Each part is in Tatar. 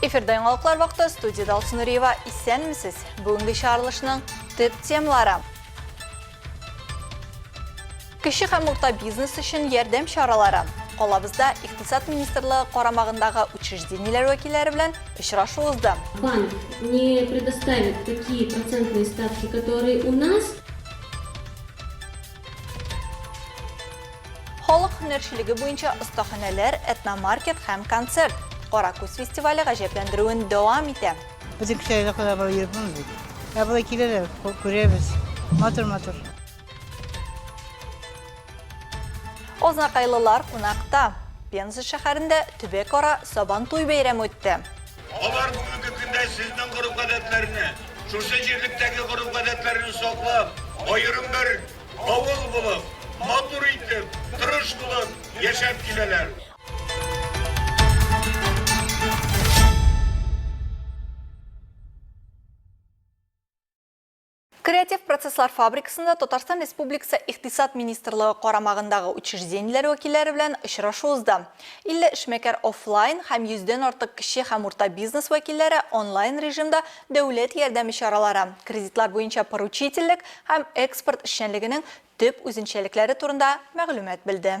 Эфирда яңалыклар вакыты студияда Алсу Нуриева. Исәнмесез. Бүгенге чаралышның төп темалары. Кеше һәм урта бизнес өчен ярдәм чаралары. Калабызда Икътисад министрлыгы карамагындагы учреждениеләр вәкилләре белән очрашу узды. Банк не предоставит такие процентные ставки, которые у нас. Халык һөнәрчелеге буенча остаханәләр, этномаркет һәм концерт. Кара күз фестивале гаҗәпләндерүен дәвам итә. Без ике айга кадәр барып йөреп булмый бит. Ә болай киләләр, күрәбез. Матур-матур. Азнакайлылар кунакта. Пенза шәһәрендә төбәкара Сабантуй бәйрәме үтте. Алар бүгенге көндә сезнең гореф-гадәтләрне, шушы җирлектәге гореф-гадәтләрне саклап, аерым бер авыл булып, матур итеп, тырыш булып яшәп киләләр. Креатив процесслар фабрикасында Татарстан Республикасы Икътисад министрлыгы карамагындагы учреждениеләр вәкилләре белән очрашу узды. 50 эшмәкәр офлайн һәм 100 дән артык кече һәм урта бизнес вәкилләре онлайн режимда дәүләт ярдәме чаралары, кредитлар буенча поручительлек һәм экспорт эшчәнлегенең төп үзенчәлекләре турында мәгълүмат белде.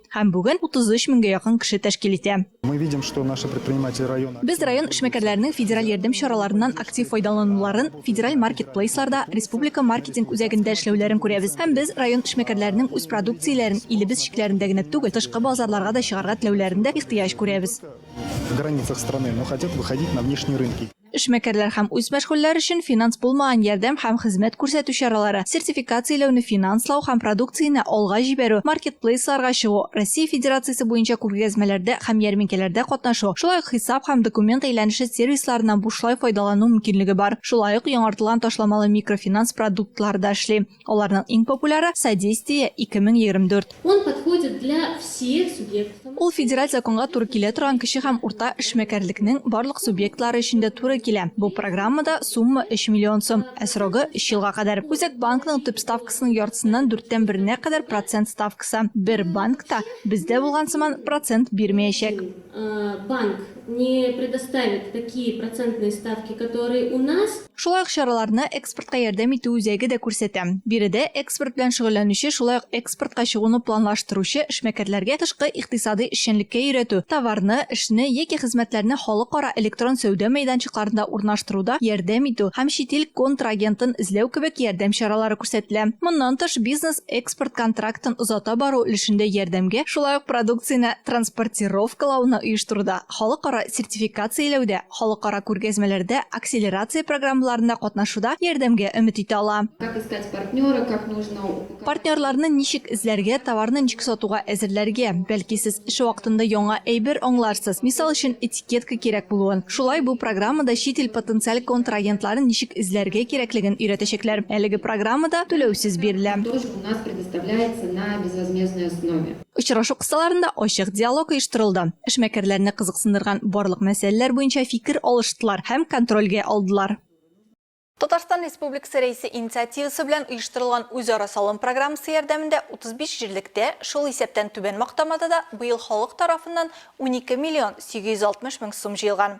Һәм бүген 33 меңгә якын кеше тәшкил итә. Без район эшмәкәрләренең федераль ярдәм чараларыннан актив файдалануларын, федераль маркетплейсларда, республика маркетинг үзәгендә эшләүләрен күрәбез. Һәм без район эшмәкәрләренең үз продукцияләрен илебез чикләрендә генә түгел, тышкы базарларга да чыгарга теләүләрендә ихтыяҗ күрәбез. Эшмәкәрләр һәм үз мәшгульләр өчен финанс булмаган ярдәм һәм хезмәт күрсәтү чаралары, сертификацияләүне финанслау һәм продукцияне алга җибәрү, маркетплейсларга чыгу, Россия Федерациясе буенча күргәзмәләрдә һәм ярминкәләрдә катнашу, шулай ук хисап һәм документ әйләнеше сервисларыннан бушлай файдалану мөмкинлеге бар. Шулай ук яңартылган ташламалы микрофинанс продуктлары да эшли. Аларның иң популяры, Содействие, 2024. Он подходит для всех субъектов. Ул федераль законга туры килә торган кече һәм урта эшмәкәрлекнең барлык субъектлары өчен дә туры килә. Бу программада сумма, өч миллион сум, ә срогы, өч елга кадәр. Үзәк банкның төп ставкасының яртысыннан дүрттән беренә кадәр процент ставкасы. Бер банк та, бездә булган сыман, процент бирмәячәк. Банк не предоставит такие процентные ставки, которые у нас. Шулай ук чараларны Экспортка ярдәм итү үзәге дә күрсәтә. Биредә экспорт белән шөгыльләнүче, шулай ук экспортка чыгуны планлаштыручы эшмәкәрләргә тышкы икътисадый эшчәнлеккә өйрәтү, товарны, эшне яки хезмәтләрне халыкара электрон сәүдә мәйданчыкларында урнаштыруда ярдәм итү һәм чит ил контрагентын эзләү кебек ярдәм чаралары күрсәтелә. Моннан тыш, бизнес, экспорт контрактын озата бару өлешендә ярдәмгә, шулай ук продукцияне транспортировкалауны оештыруда, халыкара сертификацияләүдә, халыкара күргәзмәләрдә, акселерация программаларында катнашуда ярдәмгә өмет итә ала. Партнерларны ничек эзләргә, товарны ничек сатуга әзерләргә? Бәлки сез эш вакытында яңа әйбер аңларсыз, мисал өчен, Детка кирәк булуын, шулай бу программада чит ил потенциаль контрагентларын ничек эзләргә кирәклеген өйрәтәчәкләр. Әлеге программа да түләүсез бирелә. Им тоже у нас предоставляется на безвозмездной основе. Очрашу кысаларында ачык диалог оештырылды. Эшмәкәрләрне кызыксындырган барлык мәсьәләләр буенча фикер алыштылар һәм контрольгә алдылар. Татарстан Республикасы Рәисе инициативасы белән оештырылган үзара салым программасы ярдәмендә 35 җирлектә, шул исәптән Түбән Мактамада да быел халык тарафыннан 12 миллион 860 мең сум җыелган.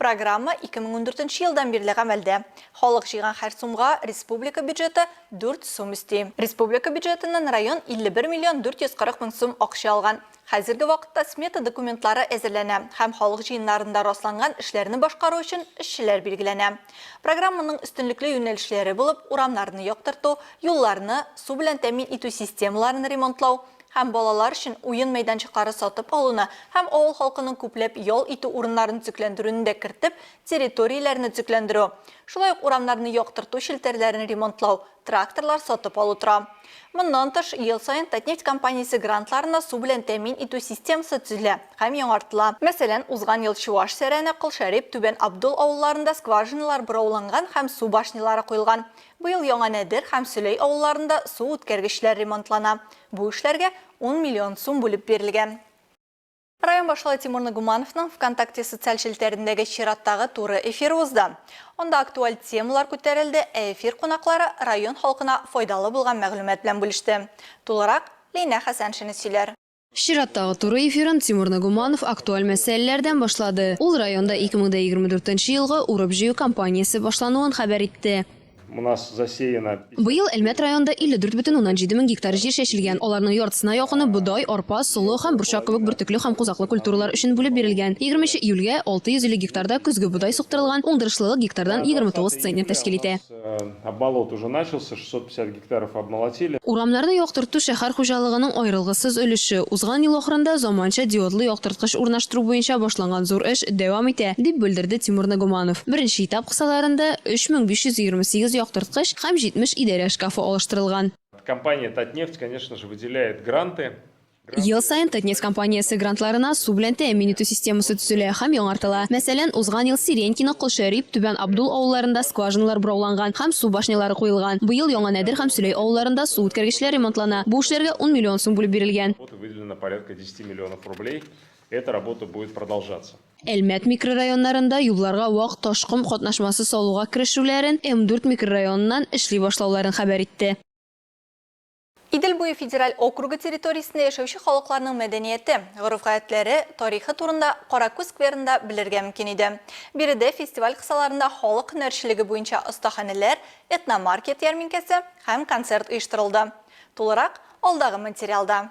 Программа 2014 елдан бирле гамәлдә. Халык җыйган һәр сумга республика бюджеты 4 сум өсти. Республика бюджетыннан район 51 миллион 440 мең сум акча алган. Хәзерге вакытта смета документлары әзерләнә һәм халык җыеннарында расланган эшләрне башкару өчен эшчеләр билгеләнә. Программаның өстенлекле юнәлешләре булып урамнарны яктырту, юлларны, су белән тәэмин итү системаларын ремонтлау һәм балалар өчен уен мәйданчыклары сатып алуны һәм авыл халкының күпләп ял итү урыннарын төзекләндерүне дә кертеп, территорияләрне төзекләндерү, шулай ук урамнарны яктырту челтәрләрен ремонтлау, тракторлар сатып алу тора. Моннан тыш, ел саен Татнефть компаниясе грантларына су белән тәэмин итү системасы төзелә һәм яңартыла. Мәсәлән, узган ел Чуаш Сәрәне, Кол Шәрип, Түбән Абдул авылларында скважиналар борауланган һәм су башнялары куелган. Быел Яңа Нәдер һәм Сөләй авылларында су үткәргечләр ремонтлана. Бу эшләргә ун миллион сум бүлеп бирелгән. Район башлыгы Тимур Нагумановның ВКонтакте социаль челтәрендәге чираттагы туры эфиры узды. Анда актуаль темалар күтәрелде, ә эфир кунаклары район халкына файдалы булган мәгълүмат белән бүлеште. Тулырак Линә Хәсәншина сөйләр. Чираттагы туры эфирын Тимур Нагуманов актуаль мәсьәләләрдән башлады. Ул районда 2024 елгы урып-җыю кампаниясе башлануын хәбәр итте. Быел Әлмәт районында 54 бөтен уннан җиде мең гектар җир чәчелгән. Аларның яртысына якыны бодай, арпа, солы һәм борчак кебек бөртекле һәм кузаклы культуралар өчен бүлеп бирелгән. Егерменче июльгә 650 гектарда көзге бодай суктырылган, уңдырышлылык гектардан 29 центнер тәшкил итә. Гектаров обмолотили. Урамнарны яктырту шәһәр хуҗалыгының аерылгысыз өлеше. Узган ел ахырында заманча диодлы яктырткыч урнаштыру буенча башланган зур эш дәвам итә, дип белдерде Тимур Нагуманов. Беренче этап кысаларында 3528 яктырткыч һәм 70 идарә шкафы алыштырылган. Компания Татнефть, конечно же, выделяет гранты. Ел саен Татнефть компаниясе грантларына су белән тәэмин итү системасы төзелә һәм яңартыла. Мәсәлән, узган ел Сиренькино, Колшәрип, Түбән Абдул авылларында скважиналар борауланган һәм су башнялары куелган. Быел Яңа Нәдер һәм Сөләй авылларында су үткәргечләр ремонтлана. Бу эшләргә ун миллион сум бүлеп бирелгән. Әлмәт микрорайоннарында юлларга вак ташком катнашмасы салуга керешүләрен, М-дүрт микрорайоныннан эшли башлауларын хәбәр итте. Идел буе федераль округы территориясендә яшәүче халыкларның мәдәнияте, гореф-гадәтләре, тарихы турында Каракүз скверында белергә мөмкин иде. Биредә фестиваль кысаларында халык һөнәрчелеге буенча остаханәләр, этномаркет ярминкәсе һәм концерт оештырылды. Тулырак, алдагы материалда.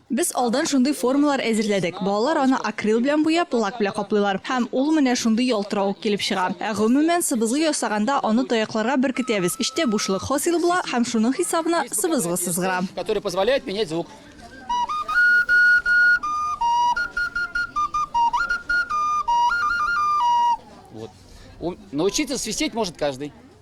Без алдан шундый формалар әзерләдек, балалар аны акрил белән буяп, лак белән каплыйлар, һәм ул менә шундый ялтыравык килеп чыга. Ә гомумән, сыбызгы ясаганда, аны таякларга беркетәбез, эчтә бушлык хасил була, һәм шуның хисабына сыбызгы сызгыра. Которые позволяют менять звук. Вот. Научиться свистеть может каждый.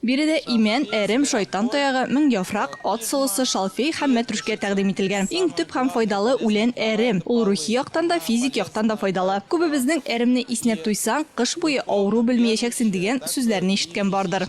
Биредә имән, әрем, шайтан таягы, меңьяфрак, ат солысы, шалфей һәм мәтрүшкә тәкъдим ителгән. Иң төп һәм файдалы үлән, әрем. Ул рухи яктан да, физик яктан да файдалы. Күбебезнең әремне иснәп туйсаң, кыш буе авыру белмиячәксең дигән сүзләрне ишеткән бардыр.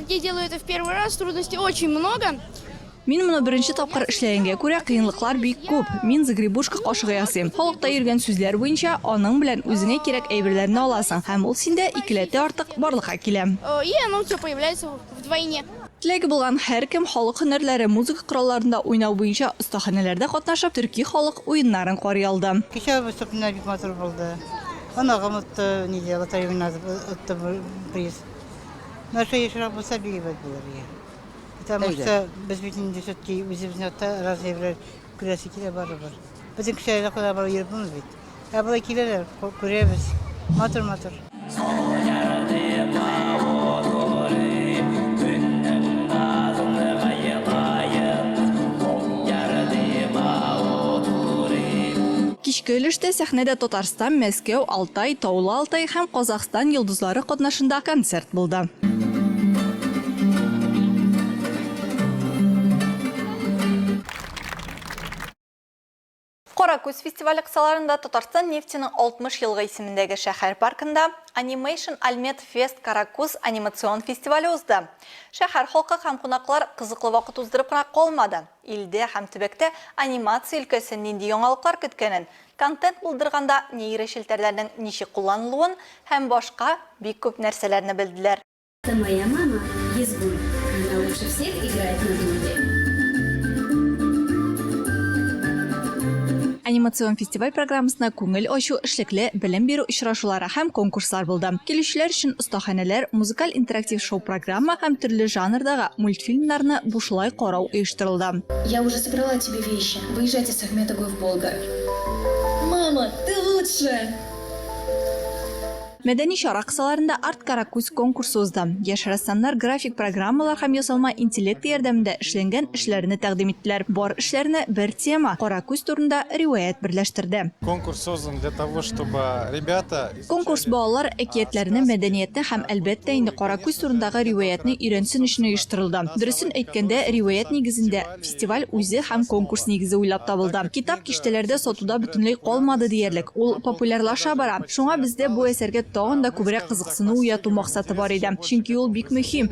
Мин моны беренче тапкыр эшләгәнгә күрә, кыенлыклар бик күп. Мин загребушка кашыгы ясыйм. Халыкта йөргән сүзләр буенча, аның белән үзеңә кирәк әйберләрне аласың, һәм ул синдә икеләтә артык барлыкка килә. Теләге булган һәркем халык һөнәрләре, музыка коралларында уйнау буенча остаханәләрдә катнашып, төрки халык уеннарын карый алды. Кичә выступленнәр бик матур булды. Оныгым отты, нидә, лотерея уйнады, отты приз. Нәрсә ешрак булса биебез булыр ия. Потому что без бит инде все-таки үзебезнең якта раз җәйләр күрәсе килә барыбер. Безнең кеше әллә кайда барып йөреп булмый бит. Ә болай киләләр, ку- күрәбез. Матур матур. Кичке өлештә сәхнәдә Татарстан, Мәскәү, Алтай, Таулы Алтай һәм Казах Татарстан йолдызлары катнашында концерт булды. Кара күз фестивале кысаларында Татарстан нефтеның 60 елгы исемендәге шәһәр паркында Animation Almet Fest Каракүз анимацион фестивале узды. Шәһәр халкы һәм кунаклар кызыклы вакыт уздырып кына калмады. Илдә һәм төбәктә анимация өлкәсен нинди яңалыклар көткәнен, контент булдырганда нейрочелтәрләрнең ничек кулланылуын һәм башка бик күп нәрсәләрне белделәр. Ты моя мама, Езбуль, она лучше всех играет на дудке. Анимацион фестиваль программасына күңел ачу, эшлекле, белем бирү очрашулары һәм конкурслар булды. Килүчеләр өчен остаханәләр, музыкаль интерактив шоу-программа һәм төрле жанрдагы мультфильмнарны бушлай карау оештырылды. Я уже собрала тебе вещи, выезжать Сәхмәтов гов Болгар. Мама, ты лучшая! Мәдәни чара кысаларында Арт-Каракүз конкурсы узды. Яшь рәссамнар график программалар һәм ясалма интеллект ярдәмендә эшләнгән эшләрне тәкъдим иттеләр. Бар эшләрне бер тема, Каракүз турында риваять берләштерде. Конкурс создан для того, чтобы ребята. Конкурс балалар әкиятләрне, мәдәниятне һәм, әлбәттә инде, Кара күз турындагы риваятьне өйрәнсен өчен оештырылды. Дөресен әйткәндә, риваять нигезендә, фестиваль үзе һәм конкурс нигезе уйлап табылды. Китап киштәләрдә сатуда бөтенләй калмады диярлек, ул популярлаша бара. Шуңа бездә бу әсәргә тагын да күбрәк кызыксыну уяту максаты бар иде. Чөнки ул бик мөһим.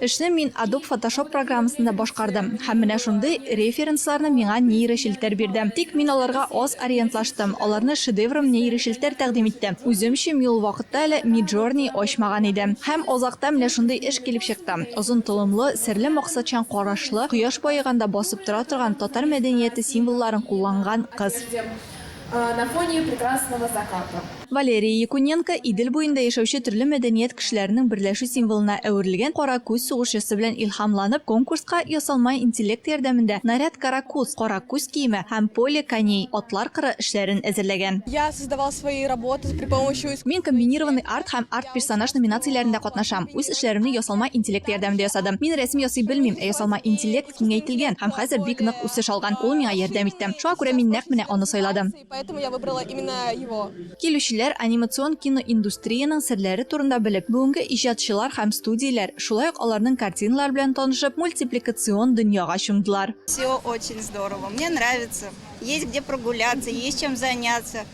Эшне мин Adobe Photoshop программасында башкардым, һәм менә шундый референсларны миңа нейрочелтәр бирде. Тик мин аларга аз ориентлаштым, аларны шедеврым нейрочелтәр тәкъдим итте. Үземче ми ул вакытта әле Midjourney ачмаган идем. Һәм азакта менә шундый эш килеп чыкты, озын толымлы, серле максатчан карашлы, кояш баеганда басып тора торган татар мәдәнияте символларын кулланган кыз. На фоне прекрасного заката. Валерия Якуненко Идел буенда яшәүче төрле мәдәният кешеләренең берләшү символына әверелгән кара күз сугышчысы белән илһамланып, конкурска ясалма интеллект ярдәмендә Наряд каракуз, кара күз киеме, һәм Поле коней, атлар кыры, эшләрен әзерләгән. Я создавал свои работы при помощи искусственного интеллекта. Мин комбинированный арт һәм арт-персонаж номинацияләрендә катнашам. Үз эшләремне ясалма интеллект ярдәмендә ясадым. Мин рәсем ясый белмим, ә ясалма интеллект, киңәйтелгән һәм хәзер бик нык үсеш алган. Ул миңа ярдәм итте. Шуңа күрә мин нәкъ менә аны сайладым. Килүчеләр анимацион киноиндустриянең серләре турында белеп, бүгенге иҗатчылар һәм студияләр, шулай ук аларның картиналары белән танышып, мультипликацион дөньяга чумдылар.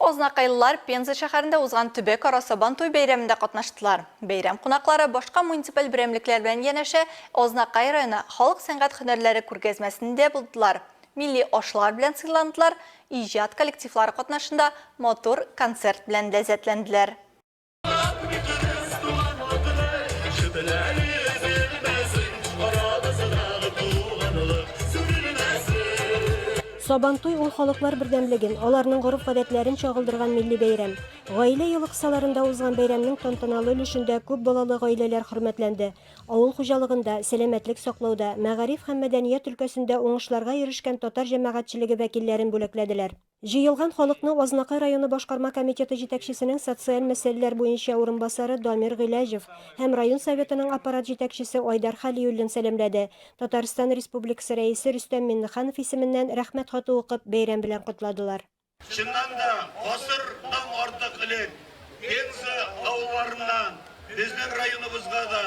Азнакайлылар Пенза шәһәрендә узган төбәкара Сабантуй бәйрәмендә катнаштылар. Бәйрәм кунаклары башка муниципаль берәмлекләр белән янәшә Азнакай районы халык сәнгать һөнәрләре күргәзмәсендә булдылар. Милли ашлар белән сыйландылар, иҗат коллективлары катнашында матур концерт белән ләззәтләнделәр. Сабантуй ул халыклар бердәмлеген, аларның гореф-гадәтләрен чагылдырган милли бәйрәм. Гаилә елы кысаларында узган бәйрәмнең тантаналы өлешендә күп балалы гаиләләр хөрмәтләнде, Авыл хуҗалыгында, сәламәтлек саклауда, мәгариф һәм мәдәният өлкәсендә уңышларга ирешкән татар җәмәгатьчелеге вәкилләрен бүләкләделәр. Җыелган халыкны Азнакай районы башкарма комитеты җитәкчесенең социаль мәсьәләләр буенча урынбасары Дамир Гыйләҗев һәм район Советының аппарат җитәкчесе Айдар Хәлиуллин сәламләде, Татарстан Республикасы Рәисе Рөстәм Миңнеханов исеменнән Рәхмәт хаты укып, бәйрәм белән котладылар. Чыннан да, гасырдан артык элек Пенза авылларыннан безнең районыбызга да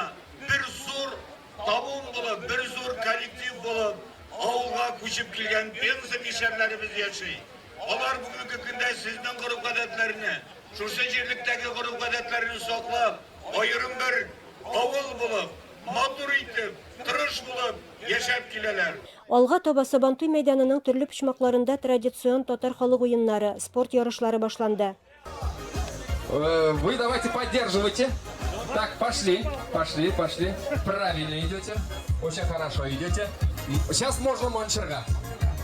бер зур табын булып, бер зур коллектив булып авылга күчеп килгән Пенза мишәрләребез яши. Алар бүгенге көндә сезнең гореф-гадәтләрне, шушы җирлектәге гореф-гадәтләрне саклап, аерым бер авыл булып, матур итеп, тырыш булып, яшәп киләләр. Алга таба Сабантуй мәйданының төрле почмакларында традицион татар халык уеннары, спорт ярышлары башланды. Вы давайте поддерживайте. Так, пошли, пошли, пошли. Правильно идете. Очень хорошо идете. Сейчас можно манчерга.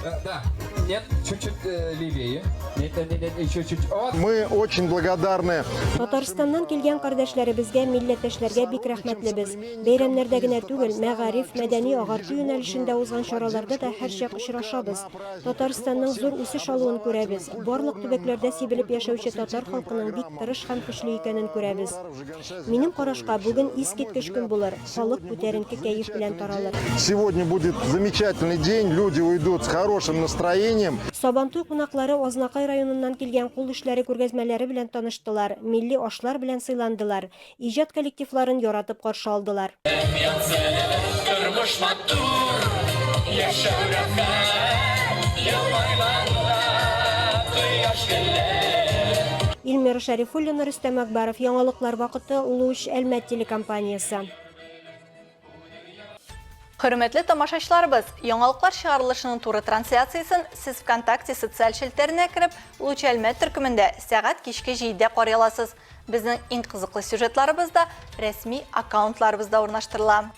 Э, да, нет, чуть-чуть э, левее. Нет, нет, нет, нет, еще чуть. Вот. Мы очень благодарны. Татарстаннан килгән кардәшләребезгә, милләттәшләргә бик рәхмәтлебез. Бәйрәмнәрдә генә түгел, мәгариф, мәдәни-агарту юнәлешендә узган чараларда да һәрчак очрашабыз. Татарстанның зур үсеш алуын күрәбез, барлык төбәкләрдә сибелеп яшәүче татар халкының бик тырыш һәм көчле икәнен күрәбез. Минем карашка, бүген искиткеч көн булыр, халык күтәренке кәеф белән таралыр. Сегодня будет замечательный день, люди уйдут с хорошим настроением. Сабантуй кунаклары Азнакай районыннан килгән кул эшләре күргәзмәләре белән таныштылар, милли ашлар белән сыйландылар, Иҗат коллективларын яратып каршы алдылар. Тормыш матур, яшәү рәхәт, ел айларда кояш гөлләр. Ильмира Шәрифуллина, Рөстәм Әкбаров, Яңалыклар вакыты, Луч, Әлмәт телекомпаниясе. Хөрмәтле тамашачыларыбыз, яңалыклар чыгарылышының туры трансляциясен сез ВКонтакте социаль челтәренә кереп, Луч Әлмәт төркемендә сәгать кичке 7-дә карый аласыз. Безнең иң кызыклы сюжетларыбыз да рәсми аккаунтларыбызда урнаштырыла.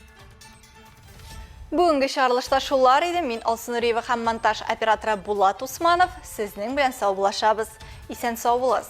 Бүгенге чыгарылышта шулар иде. Мин Алсу Нуриева һәм монтаж операторы Булат Усманов. Сезнең белән сау булашабыз. Исән сау булыгыз.